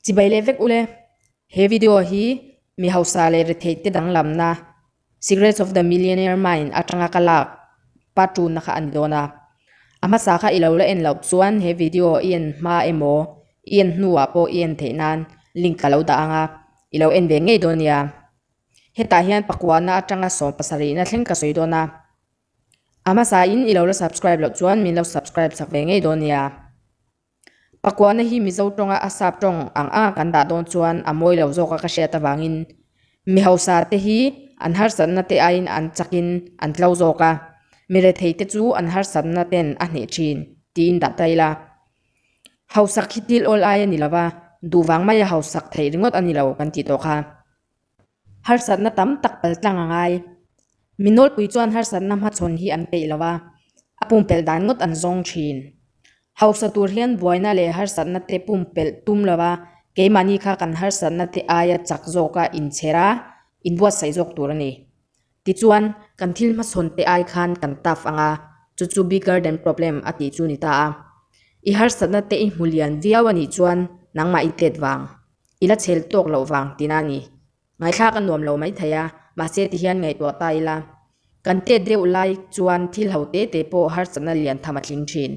Chibai leh vek ule, he video hi mi hausa leh retheite danglamna Secrets of the Millionaire Mind atanga ka lak pa tunna kha a ni dawn a. A hmasa kha i lo la en loh chuan he video i en hma emaw, i en hnuah pawh i en theih nan link ka lo dah ang a, i lo en ve ngei dawn nia. Hetah hian pakua na atanga sawm pasarihna thleng ka sawi dawn a. A hmasa in i lo la subscribe loh chuan min lo subscribe chak ve ngei dawn nia. Pakuahna hi Mizo tawnga a sap tawng ang a kan dah dawn chuan a mawi lo zawk a ka hriat avangin mi hausa te hi an harsatna te aiin an chak in an tlo zawk a, mi rethei te chu an harsatna ten a hneh thin tiin dah ta ila. Hausak hi thil awl ai a ni lova, duh vang maia hausak theih ringawt a ni lo kan tih tawh kha. Harsatna tam tak pal tlang a ngai. Mi nawlpui chuan harsatna hmachhawn hi an peih lo a, a pumpelh dan ngawt an zawng thin. Hausa tur hian buaina leh harsatna te pumpelh tum lo a, keimahni kha kan harsatna te aia chak zawka inchher a, inbuatsaih zawk tur a ni. Tichuan, kan thil hmasawn te ai khan kan taf ang a, chu chu bee garden problem a tih chu ni ta a. I harsatna te i hmu lian viau a nih chuan nangmah i tlet vang, i la chhel tawk loh vang tina a ni. Ngaithlak a nuam lo mai thei a, mahse tihian ngaihtuah ta ila. Kan tlet deuh lai chuan thil ho te te pawh harsatna lian tham a tling thin.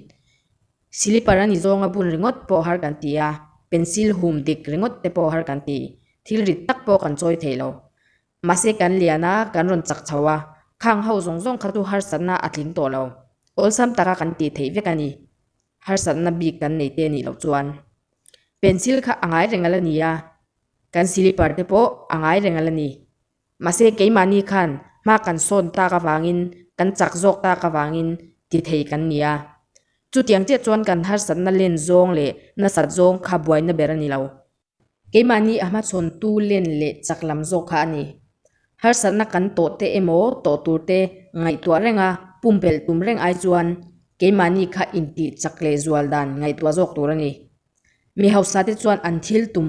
Silipar a ni zawng a bun ringawt pawh har kan ti a, pencil hum dik ringawt te pawh har kan ti, thil rit tak pawh kan chawi thei lo. Mahse kan lian a, kan rawn chak chho a, khang ho zawng zawng kha chu harsatna a tling tawh lo. Awlsam taka kan ti theih vek a ni, harsatna bik kan nei te nih loh chuan. Pencil kha a ngai reng ngal a ni a, kan slipper te pawh a ngai reng ngal a ni. Mahse keimahni khan hma kan sawn tak avangin, kan chak zawk tak avangin ti thei kan ni a. Chutiang chiah chuan kan harsatna len zawng leh nasat zawng kha buaina ber a ni lo. Keimahni a hmachhawntu len leh chak lam zawk kha a ni. Harsatna kan tawh te emaw tawh tur te ngaihtuah renga pumpelh tum reng ai chuan keimahni kha intih chak leh zual dan ngaihtuah zawk tur a ni. Mi hausa te chuan an thil tum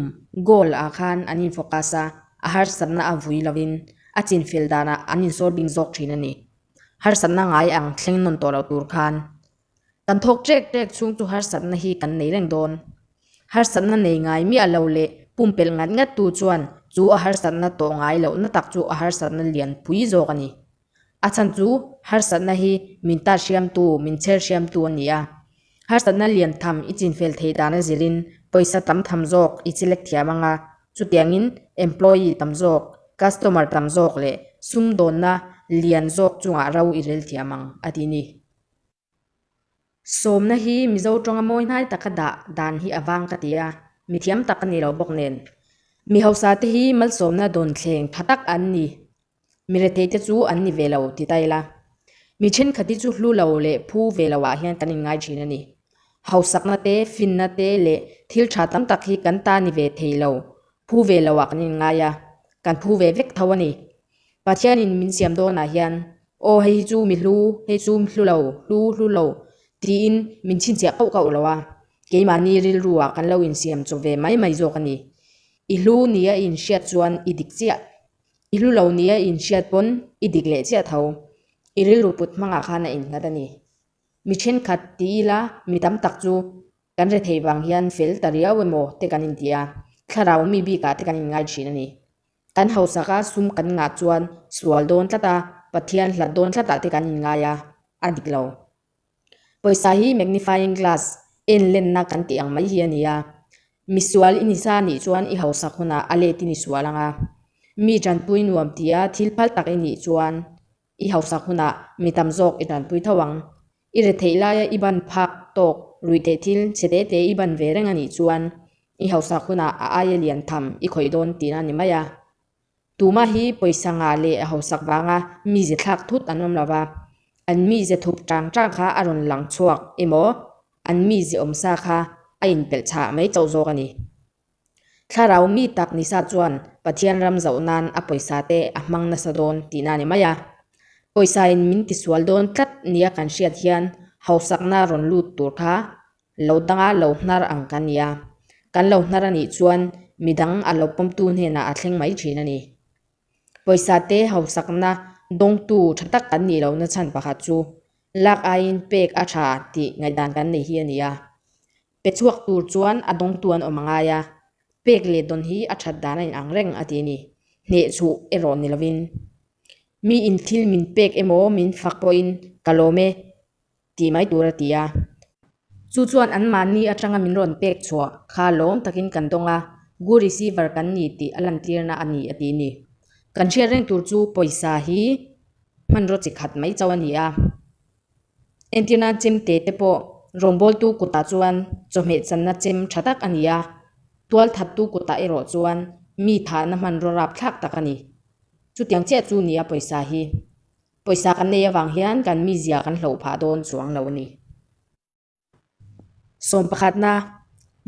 goal ah khan an in focus a, a harsatna a vui lovin a chinfel danah an insawr ding zawk thin a ni. Harsatna ngai ang thleng nawn tawh loh tur khan Kan thawk ṭek ṭek chhung chu harsatna hi kan nei reng dawn. Harsatna nei ngai miah lo leh pumpelh ngat ngat tu chuan chu a harsatna tawh ngai lohna tak chu a harsatna lian pui zawk a ni. A chhan chu harsatna hi min tat hriamtu, min chher hriamtu a ni a. Harsatna lian tham i chinfel thei dan a zirin pawisa tam tham zawk i chi lek thiam ang a, chutiangin employee tam zawk, customer tam zawk leh sum dawnna lian zawk chungah ro i rel thiam ang, a ti ni. Sawmna hi Mizo ṭawng-a mawi hnai taka dah dan hi a vang ka ti a, mithiam tak a ni lo bawk nen. Mi hausa te hi malsawmna dawn thleng tha tak an ni, mi rethei te chu an ni ve lo ti ta ila. Mi ṭhenkhat hi chu hlu lo leh phu ve lo ah hian kan in ngai ṭhin a ni. Hausakna te, finna te leh thil ṭha tam tak hi kan ta ni ve thei lo, phu ve lo ah kan in ngai a, kan phu ve vek tho a ni. Pathianin min siam dawnah hian, Aw, hei hi chu mi hlu, hei chu hlu lo, hlu, hlu lo, tiin min chhinchhiah kauh kauh lo a, keimahni rilruah kan lo insiam chaw ve mai mai zawk a ni. I hlu ni a inhriat chuan i dik chiah. I hlu lo ni a inhriat pawn i dik leh chiah tho. I rilru put hmangah khan a inghat a ni. Mi thenkhat ti ila mi tam tak chu kan re thei vang hian fel ta riau emaw te kan inti a, thlarau mi bikah te kan inngai thin a ni. Kan hausaka sum kan ngah chuan sual dawn tlata, Pathian hlat dawn tlatah te kan inngai a, a dik lo. Pawisa hi magnifying glass en lenna kan tih ang mai hi a ni a. Misual i ni sa nih chuan i hausak hunah a let i ni sual ang a. Mi tanpui nuam tia thil phal tak i nih chuan I hausak hunah mi tam zawk i danpui tho ang. I re theih laia i ban phak tawk ruih teh thil che te te i ban ve reng a nih chuan i hausak hunah a aia lian tham i khawih dawn tihna a ni mai a. Tumah hi pawisa-nga leh a hausak vanga mize thlak thut an awm lo va, an mize thup tang tang kha a rawn lang chhuak emaw an mize awmsa kha a inpelh chhah mai chauh zawk a ni. Thlarau mi tak nisa chuan Pathian ram zoh nan a pawisa te a hmang nasa dawn tihna ni mai a. Pawisa in min ti sual dawn tlat nia kan hriat hian hausakna rawn lut tur kha lo danga lo hnar ang kan nia. Kan lo hnar a nih chuan midang a lo pawm tu hnenah a thleng mai thin a ni. Pawisa te hausakna dawng tu tha tak kan nih lo na chhan pakhat chu lak aiin pek a tha tih ngaihdan kan nei hi a ni a. Pe chhuak tur chuan a dawngtu an awm a ngai a, pek leh dawn hi a that dan a in ang reng a ti a ni. Hneh chhuh erawh ni lovin, mi in thil min pek emaw min fak pawhin ka lawm e tih mai tur a ti a. Chu chuan an mahni atanga min rawn pek chhuah kha lawm takin kan dawng a, gu receiver kan ni tih a lantîrna a ni a ti a ni. Kan hriat reng tur chu pawisa hi hmanraw chi khat mai chauh a ni a. Entirnan chim te te pawh rawngbawltu kutah chuan chawhmeh channa chim tha tak a ni a, tualthattu kutah erawh chuan mi thahna hman rawrap thlak tak a ni. Chutiang chiah chu ni a pawisa hi. Pawisa kan nei avang hian kan mizia kan hlo phah dawn chuang lo a ni. Sawm pakhatna,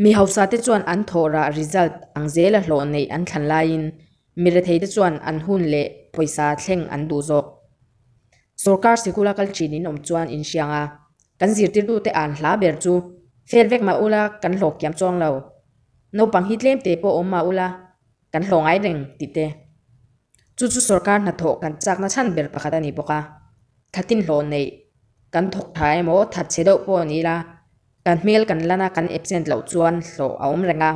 mi hausate chuan an thawhrah result ang zel a hlawh neih an thlan laiin mi retheite chuan an hun leh pawisa thleng an duh zawk. Sorkar sikul a kal thin in awm chuan in hriang a, kan zirtirtute an hla ber chu fail vek mah ula kan hlawk kiam chuang lo. Naupang hi tlem te pawh awm mah ula. kan hlawh ngai reng tih te chu chu sorkar hnathawh kan chakna chhan ber pakhat a ni bawk a, thatin hlawh neih kan thawk tha emaw that che deuh pawh ni ila kan hmel kan lan a kan absent loh chuan hlawh a awm reng a,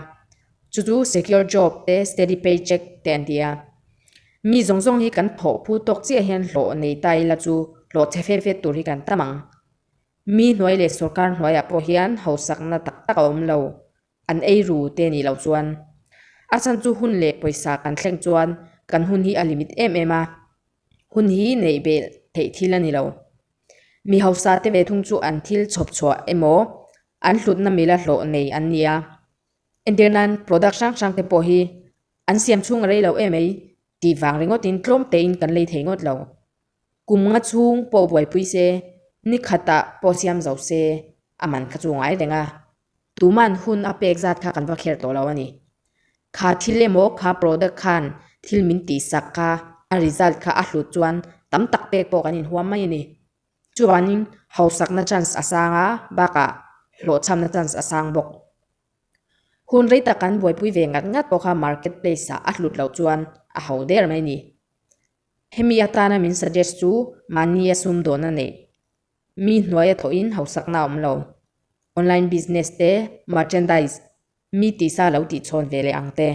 chu chu secure job te steady pay check te an ti a, mi zawng zawng hi kan thawh phu tawk chiah hian hlawh nei ta ila chu hlawh che fet fet tur hi kan tam ang, mi hnuai leh sorkar hnuaiah pawh hian hausakna tak tak a awm lo An ei ru te nih loh chuan a chhan chu hun leh pawisa kan thleng chuan kan hun hi a limit em em a, hun hi neihbel theih thil a ni lo. Mi hausa te ve thung chu an thil chhawp chhuah emaw an hlutna mila hlawh nei an ni a, entir nan product hrang hrang te pawh hi an siam chhung a rei lo em ei tih vang ringawt in tlawm tein kan lei thei ngawt lo. Kum nga chhung pawh buaipui se, ni khata pawh siam zo se, a man kha chu ngai reng a, tuman hun a pek zat kha kan va kher tawh lo a ni. Kha thil emaw kha product khan thil min tih sak kha a result kha a hlut chuan tam tak pek pawh kan inhuam mai a ni. Chuvanin hausakna chance a sang a, bakah hlawhchhamna chance a sang bawk. Hun rei tak kan buaipui ve ngat ngat pawh kha market place ah a hlut loh chuan a hau der mai a ni. Hemi atana min suggest chu mahni a sum dawn a neih. Mi hnuaia thawhin hausakna a awm lo. Online business te, merchandise, mi tisa lo tihchhawn ve leh ang te.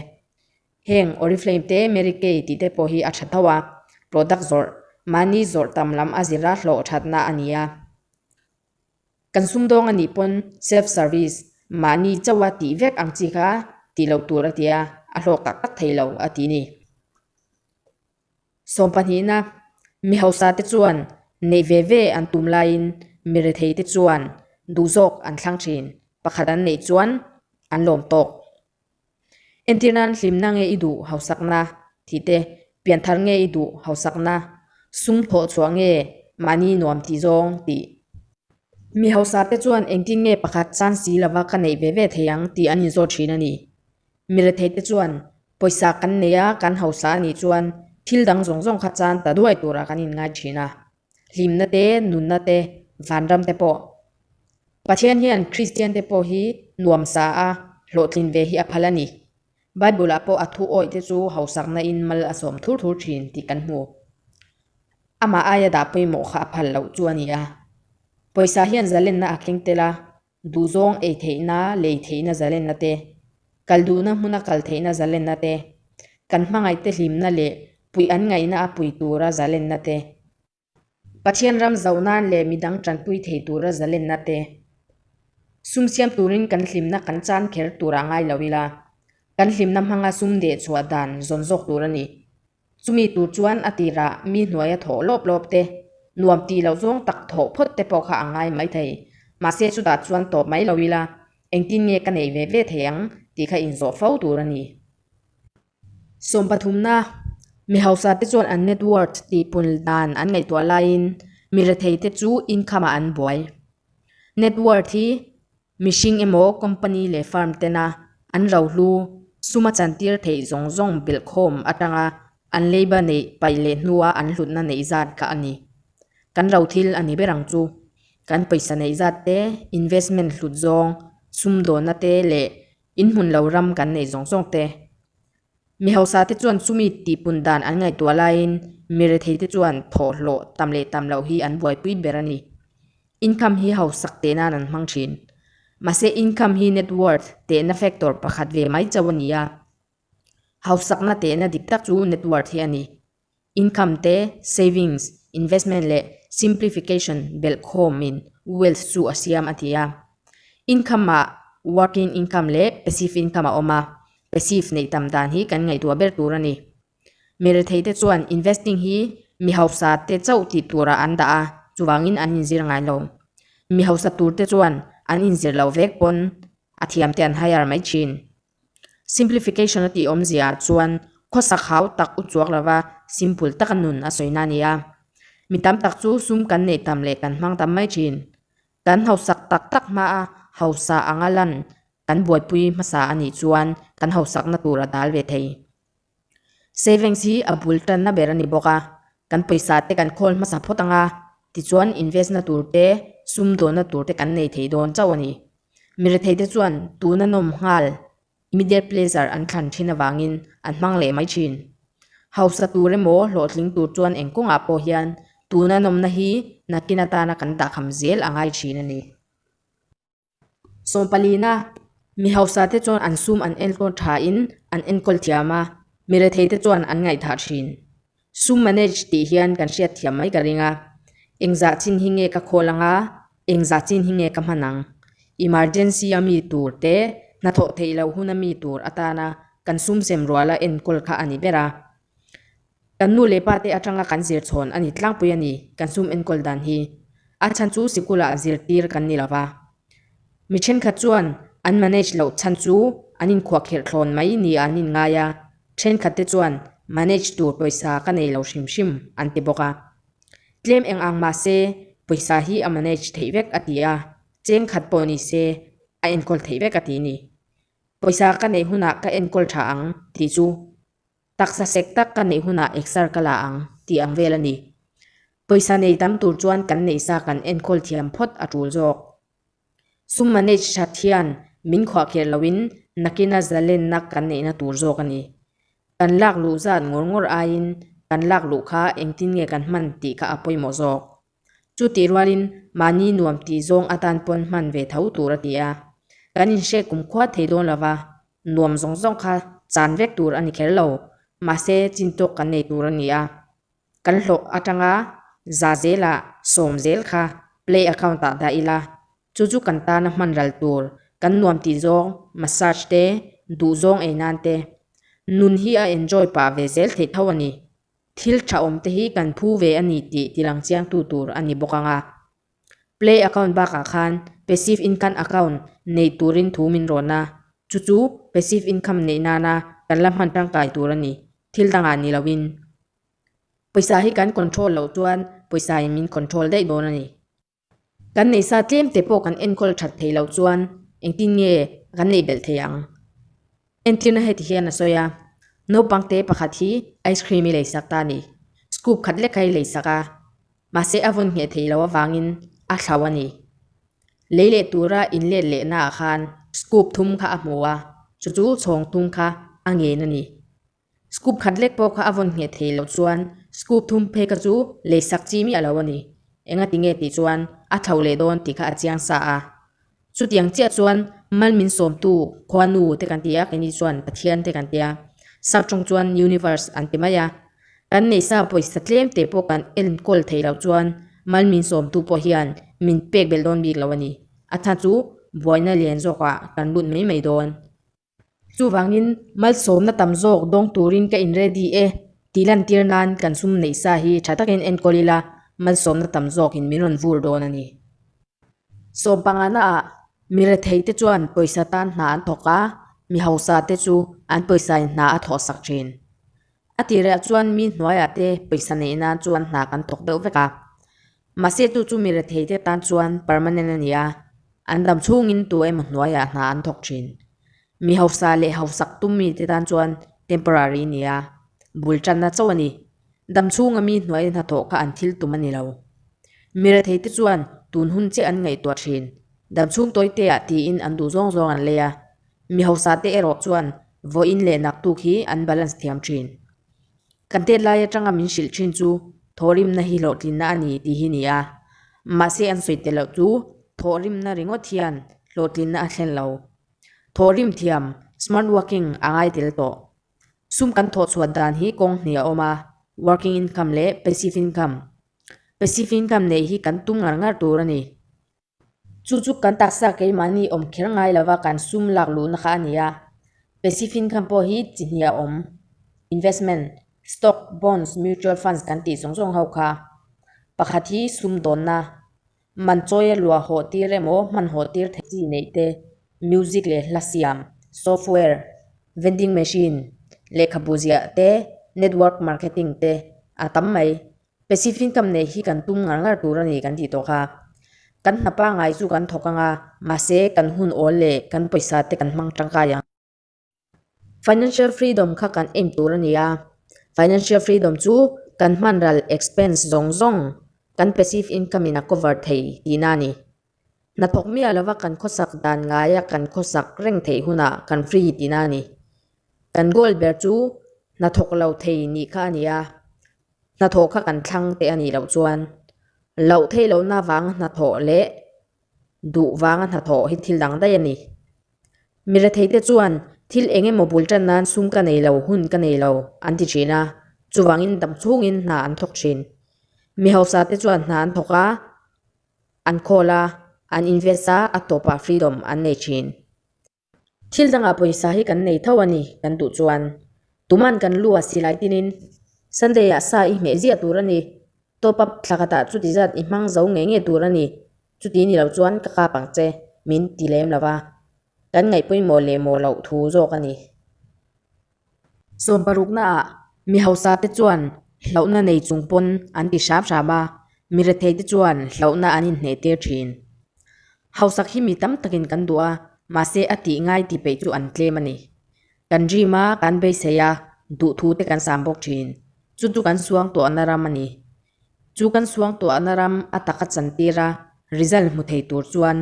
Heng Oriflame te Mary Kay tih te pawh hi a tha tho a, product zawrh, mahni zawrh tam lam a zira hlawh thatna a ni a. Kan sumdawng anih pawn self service mahni chauh a tih vek ang chi kha tih loh tur a ti a, a hlawk tak tak thei lo a ti ni. Sawm pahnihna, mi hausa te chuan neih ve ve an tum laiin mi rethei te chuan duh zawk an thlang thin, pakhat an neih chuan an lawm tawk. Entir nan hlimna nge i duh hausakna tih te, pianthar nge i duh hausakna, sum thawh chhuah nge mahni nuam tih zawng tih. Mi hausa te chuan engtin nge pakhat san si lova ka neih ve ve thei ang tih an inzawt thin a ni. Mi rethei te chuan pawisa kan nei a, kan hausa nih chuan thil dang zawng zawng kha chan ta duai turah kan inngai thin a. hlimna te, nunna te, vanram te pawh. Pathian hian Kristian te pawh hi nuam sa a, hlawhtlin ve hi a phal a ni. Bible-ah pawh a thu awih te chu hausakna in mal a sawm thur thur thin tih kan hmu. Amah aia dah pawimawh kha a phal loh chu a ni a. Pawisa hian zalenna a keng tel a, Duhzawng ei theihna, lei theihna zalenna te, kal duhna hmuna kal theihna zalenna te, kan hmangaihte hlimna leh puih an ngaihna a pui tura zalenna te, Pathian ram zoh nan leh midang tanpui thei tura zalenna te, sumsiam turin kan hlimna kan chan kher tura ngai lo ila, kan hlimna hmanga sumdeh chhuah dan zawn zawk tur a ni. Chumi tur chuan a tirah mi hnuaia thawh lawp lawp te, nuam ti loh zawng tak thawh phawt te pawh kha a ngai mai thei. Mahse chutah chuan tawp mai lo ila, engtin nge ka nei ve ve thei ang tih kha inzawh fo tur a ni. Sawm pathumna, mi hausa te chuan an net worth tihpun dan an ngaihtuah laiin mi rethei te chu income-ah an buai. Net worth hi Mihring emaw company leh firm tena an lo hlu suma chantir theih zawng zawng belhkhawm atanga an labour neih pai leh hnua an hlutna neih zat kha a ni. Kan lo thil a ni ber ang chu. Kan pawisa neih zat te, investment hlut zawng, sum dawna te leh inhmun lo ram kan neih zawng zawng te, Mi hausa te chuan chumi tihpun dan an ngaihtuah laiin Mire thei te chuan thawh hlawh tam leh tam loh hi an buaipui ber a ni. Income hi hausak teh nan an hmang thin. Mahse income hi net worth tehna factor pakhat ve mai chauh a ni a. Hausakna tehna dik tak chu net worth hi a ni. Income te, savings, investment leh simplification belh khawm in wealth chu a siam a ti a. Income ah working income leh passive income a awm a, passive neih tam dan hi kan ngaihtuah ber tur a ni. Mi rethei te chuan investing hi mi hausa te chauh tih tur ah an dah a, chuvang in an inzir ngai lo. Mi hausa tur te chuan an inzir lo vek pawn a thiam te an hire mai thin. Simplification a tih awmzia ah chuan khawsak hau tak u chuak lova simple taka nun a sawina a ni a. Mi tam tak chu sum kan neih tam leh kan hmang tam mai thin. Kan hausak tak tak hmaa hausa anga lan kan buaipui hmasa a nih chuan kan hausakna tur a dal ve thei. Savings hi a bul tanna ber a ni bawk a, kan pawisa te kan khawl hmasa phawt anga, tichuan invest na tur te, sum dawn na tur te kan nei thei dawn chauh a ni. Mi rethei te chuan tun a nawm nghal, immediate pleasure an thlan thin avangin an hmang leh mai thin. Hausa tur emaw hlawhtling tur chuan eng kawngah pawh hian tun a nawmna hi nakin atana kan dahkham zel a ngai thin a ni. Sawmpalina mi hausate chuan an sum an enkawl thain an enkawl thiam a, mi retheite chuan an ngaihthah thin. Sum manage tih hian kan hriat thiam mai ka ring a, engzah chin hi nge ka khawl ang a, engzah chin hi nge ka hman ang? Emergency a mi tur te, hnathawh theih loh hun a mi tur atana kan sum sem ruala enkawl kha a ni ber a. Kan nu leh pa te atanga kan zir chhawn a ni tlangpui a ni kan sum enkawl dan hi. A chhan chu sikula zir tir kan ni lova. Mi thenkhat chuan an manage loh chhan chu an inkhuah kher thlawn mai nia an inngai a, thenkhat te chuan manage tur pawisa ka nei lo hrim hrim an ti bawk a. Tlem eng ang mahse pawisa hi a manage theih vek a ti a, cheng khat pawh ni se a enkawl theih vek a ti ni. Pawisa ka nei hunah ka enkawl tha ang tih chu Taksa sek tak ka neih hunah exer ka la ang tih ang vel a ni. Pawisa nei tam tur chuan kan neih sa kan enkawl thiam phawt a tul zawk. Sum manage hrat hian min khuah kher loin nakina zalenna kan neihna tur zawk a ni. Kan lak luh zat ngawr ngawr aiin kan lak luh kha engtin nge kan hman tih kha a pawimawh zawk. Chu tih rualin mahni nuam tih zawng atan pawn hman ve tho tur a ti a, kan inhriat kumkhua thei dawn lova nuam zawng zawng kha chan vek tur a ni kher lo, mahse chin tawk kan nei tur a ni a. Kan hlawh atanga za zela sawm zel kha Play account ah dah ila, chu chu kan tana hmanral tur, kan nuam tih zawng massage te, duh zawng ei nan te. Nun hi a enjoy pah ve zel thei tho a ni. Thil tha awmte hi kan phu ve a ni tih tilang chiangtu tur a ni bawk anga, Play account bakah khan Passive Income account neih turin thu min rawn a, chu chu Passive Income neih nana kan la hman tangkai tur a ni, thil dangah ni loin. Pawisa hi kan control loh chuan pawisa in min control daih dawn a ni. Kan neih sa tlemte pawh kan enkawl that thei lo chuan engtin nge kan neih belh thei ang? Entlina heti hian a sawi a, Naupangte pakhat hi ice cream i lei sak ta ni. Scoop khat lekai lei sak a, mahse a vawn ngheh thei lo avangin a thlau a ni. Lei leh tura in let lehnaah khan scoop thum kha a hmu a, chu chu chhawng thum kha a ngen a ni. Scoop khat lek pawh kha a vawn ngheh thei loh chuan scoop thum phei kha chu lei sak chi miah lo a ni. Enga ti nge tih chuan a tho leh dawn tih kha a chiang sa a. Chutiang chiah chuan Malmin sawmtu khuanu te kan ti a, keini chuan Pathian te kan ti a, sak tawng chuan Universe an ti mai a. Kan neih sa pawisa tlem te pawh kan enkawl thei loh chuan Malmin sawmtu pawh hian min pek belh dawn bik lo a ni. A tha chu buaina lian zawkah kan lut mai mai dawn. Chuvangin, malsawmna tam zawk dawng turin ka in ready e tih lantir nan kan sum neih sa hi tha takin enkawl ila malsawmna tam zawkin min rawn vur dawn a ni. Sawm pangana ah mi rethei te chuan pawisa tan hna an thawk a, mi hausa te chu an pawisa in hna a thawhsak thin. A tih leh chuan mi hnuaiah te pawisa nei nan chuan hna kan thawk deuh vek a. Mahse tu chu mi rethei te tan chuan permanent a ni a, an dam chhungin tu emaw hnuaiah hna an thawk thin. Mi hausa leh hausak tum mi te tan chuan temporary a ni a, bul tanna chauh a ni. Dam chhunga mi hnuai hna thawh kha an thil tum a ni lo. Mi rethei te chuan tun hun che an ngaihtuah thin. Dam chhung tawite ah tiin an duh zawng zawng an lei a, Mi hausa te erawh chuan vawiin leh nak tuk hi an balance thiam thin. Kan tet lai atanga min hrilh thin chu thaw rimna hi hlawhtlinna a ni tih hi ni a, mahse an sawi tel loh chu thaw rimna ringawt hian hlawhtlinna a thlen lo. Thaw rim thiam, smart working, a ngai tel tawh. Sum kan thaw chhuat dan hi kawng hnih a awm a, working income leh passive income. Passive income nei hi kan tum ngar ngar tur a ni. Chu chu kan taksa keimahni awm kher ngai lova kan sum lak luhna kha a ni a. Pacifincome pawh hi chi hniah awm, investment, stock, bonds, mutual funds kan tih zawng zawng ho kha. Pakhat hi sum dawnna, man chawi a lua haw tir emaw hman haw tir theih chi neih te, music leh hla siam, software, vending machine, lehkhabu ziah te, network marketing te a tam mai. Passive income nei hi kan tum ngar ngar tur a ni kan tih tawh kha. Kan hna pangai chu kan thawk ang a, mahse kan hun awl leh kan pawisa te kan hmang tangkai ang. Financial freedom kha kan aim tur a ni a. Financial freedom chu kan hmanral expense zawng zawng kan passive income in a cover thei tihna a ni. Hnathawk miah lova kan khawsak dan ngaia kan khawsak reng theih hunah kan free tina a ni. Kan goal ber chu hnathawk lo thei nih kha a ni a, hnathawh kha kan thlang teh a nih loh chuan. Loh thei lohna vanga hnathawh leh duh vanga hnathawh hi thil dang daih a ni. Mi rethei te chuan thil eng emaw bul tan nan sum ka nei lo, hun ka nei lo an ti thin a, chuvangin dam chungin hna an thawk thin. Mi hausa te chuan hna an thawk a, an call a, an invest a, a tawp a freedom an nei thin. Thil danga pawisa hi kan nei tho a ni kan duh chuan. Tuman kan lu a si lai tinin Sunday ah sa i hmeh ziah tur a ni. Top up thla khatah chuti zat i hmang zo nge nge tur a ni. Chuti ni lo chuan ka kap ang che, min ti lem lo va. Kan ngaihpawimawh leh mawh loh thu zawk a ni. Sawm parukna ah mi hausa te chuan hlauhna nei chung pawn an ti hram hram a, mi rethei te chuan hlauhna an inhneh tir thin. Hausak hi mi tam takin kan duh a, mahse a tih ngai ti peih chu an tlem a ni. Kan rim a, kan beisei a, duh thu te kan sam bawk thin. Chu chu kan suang tawhna ram a ni. Chu kan suangtuahna ram a tak a chan tir a, result hmu thei tur chuan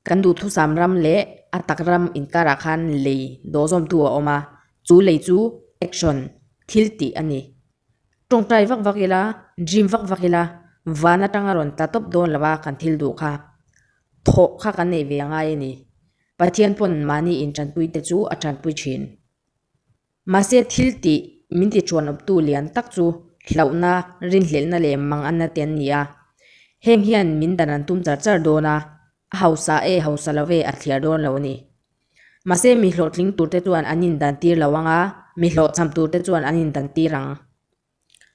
kan duhthusam ram leh a tak ram inkarah khan lei dawhzawmtu a awm a, chu lei chu action, thil tih a ni. Tawngtai vak vak ila, dream vak vak ila, van atanga rawn tla tawp dawn lo a kan thil duh kha. Thawh kha kan nei ve ngai a ni. Pathian pawn mahni in tanpuite chu a tanpui thin. Mahse, thil tih min tiṭuanawptu lian tak chu hlauhna, rinhlelhna leh manganna te an ni a. Heng hian min dan an tum char char dawn a, a hausa e hausa lo e a thliar dawn lo a ni. Mahse, mi hlawhtling turte chuan an indan tir lo ang a, mi hlawhchham turte chuan an indan tir ang.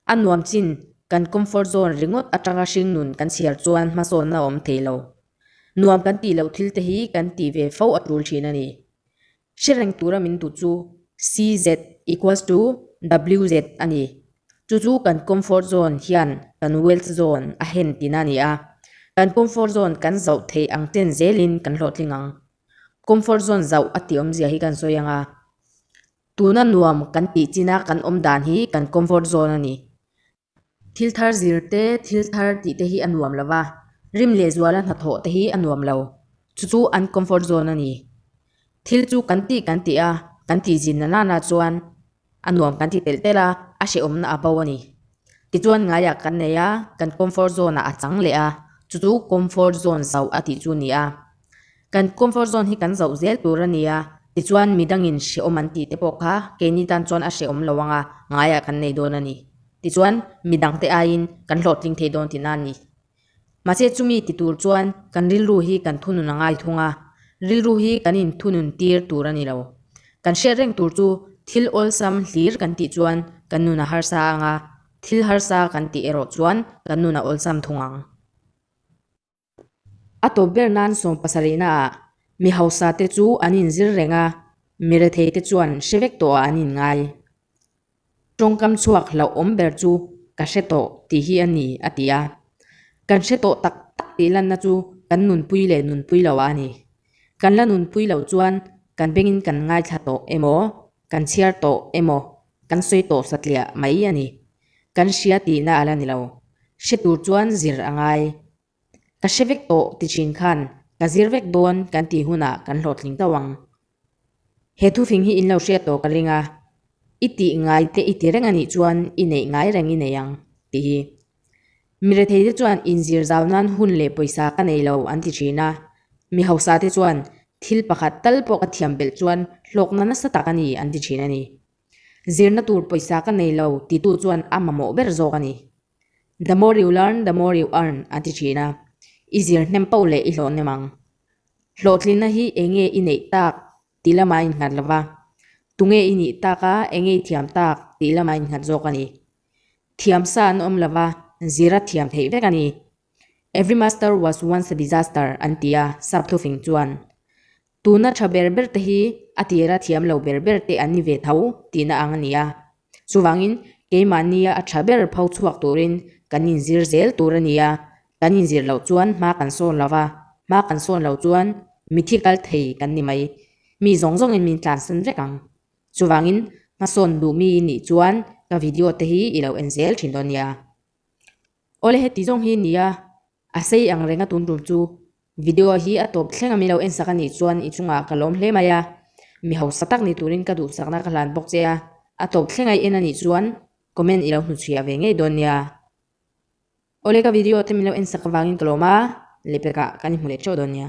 A nuam chin, kan comfort zone ringawt atanga hring nun kan chhiar chuan hmasawnna a awm thei lo. Nuam kan tih loh thil te hi kan tih ve fo a tul thin a ni. Hre reng tura min duh chu CZ equals to WZ a ni. Chu chu kan comfort zone hian kan wealth zone a hen tina a ni a. Kan comfort zone kan zauh thei ang chen zelin kan hlawhtling ang. Comfort zone zauh a tiawmzia hi kan sawi anga, Tuna nuam kan tih china kan awm dan hi kan comfort zone a ni. Thil thar zir te, thil thar tih te hi a nuam lo va, rim leh zual a hnathawh te hi a nuam lo. Chu chu an comfort zone a ni. Thil chu kan tih kan tih a, kan tih zin na nana chuan a nuam kan ti telh telh a, a hrehawmna a bo a ni. Tichuan ngaiah kan nei a, kan comfort zone a a chang leh a, chu chu comfort zone zauh a tih chu a ni a. Kan comfort zone hi kan zoh zel tur a ni a, tichuan midangin hrehawm an tihte pawh kha keini tan chuan a hrehawm lo anga ngaiah kan nei dawn a ni. Tichuan midangte aiin kan hlawhtling thei dawn tihna a ni. Mahse chumi ti tur chuan kan rilru hi kan thunun a ngai thung a, rilru hi kan inthunun tir tur a ni lo. Kan hriat reng tur chu thil awlsam hlir kan tih chuan kan nun a harsa ang a, thil harsa kan tih erawh chuan kan nun a awlsam thung ang. A tawp ber nan sawm pasarihna ah mi hausa te chu an in zir reng a, mi rethei te chuan hre vek tawh ah an in ngai. Tawngkam chhuak hlauh awm ber chu ka hre tawh tih hi a ni a ti a. Kan hre tawh tak tak tih lanna chu kan nunpui leh nunpui lo ah a ni. Kan la nunpui lo chuan kan beng in kan ngaithla tawh emaw Kan chhiar tawh emaw, kan sawi tawh satliah mai a ni. Kan hria tihna a la ni lo. Hre tur chuan zir a ngai. Ka hre vek tawh ti thin khan ka zir vek dawn kan tih hunah kan hlawhtling tauh ang. He thufing hi in lo hriat tawh ka ring a, i tih ngai te i ti reng a nih chuan i neih ngai reng i nei ang, ti hi. Mi rethei te chuan in zir zau nan hun leh pawisa ka nei lo an ti thin a, mi hausa te chuan thil pakhat tal pawh ka thiam belh chuan hlawkna nasa tak a ni an ti thin a ni. Zirna tur pawisa ka nei lo ti tu chuan a mamawh ber zawk a ni. The more you learn, the more you earn an ti thin a, i zir hnem pau leh i hlawh hnem ang. Hlawhtlinna hi eng nge i neih tak tih lamah a in nghat lo va, tunge i nih tak a eng nge i thiam tak tih lamah a in nghat zawk a ni. Thiam sa an awm lova, zira thiam theih vek a ni. Every master was once a disaster an ti a, Sap Thufing chuan. Tuna tha ber ber te hi a tira thiam lo ber ber te an ni ve tho tihna ang a ni a. Chuvangin keimahnia a tha ber pho chhuak turin kan inzir zel tur a ni a, kan inzir loh chuan hma kan sawn lova, hma kan sawn lo chuan mithi kal thei kan ni mai. Mi zawng zawngin min tlansan vek ang. Chuvangin, hmasawn duhmi nih chuan ka video te hi i lo en zel thin dawn nia. Awle heti zawng hi ni a, a sei ang renga tun rum chu video hi a tawp thlenga min lo en sak a nih chuan i chungah ka lawm hle mai a, mi hausa tak ni turin ka duhsakna ka hlan bawk che a, a tawp thleng ai en a nih chuan comment i lo hnu chhiah ve ngei dawn nia. Awle ka video te min lo en sak avangin ka lawm a, lepekah kan i hmu leh teuh dawn nia.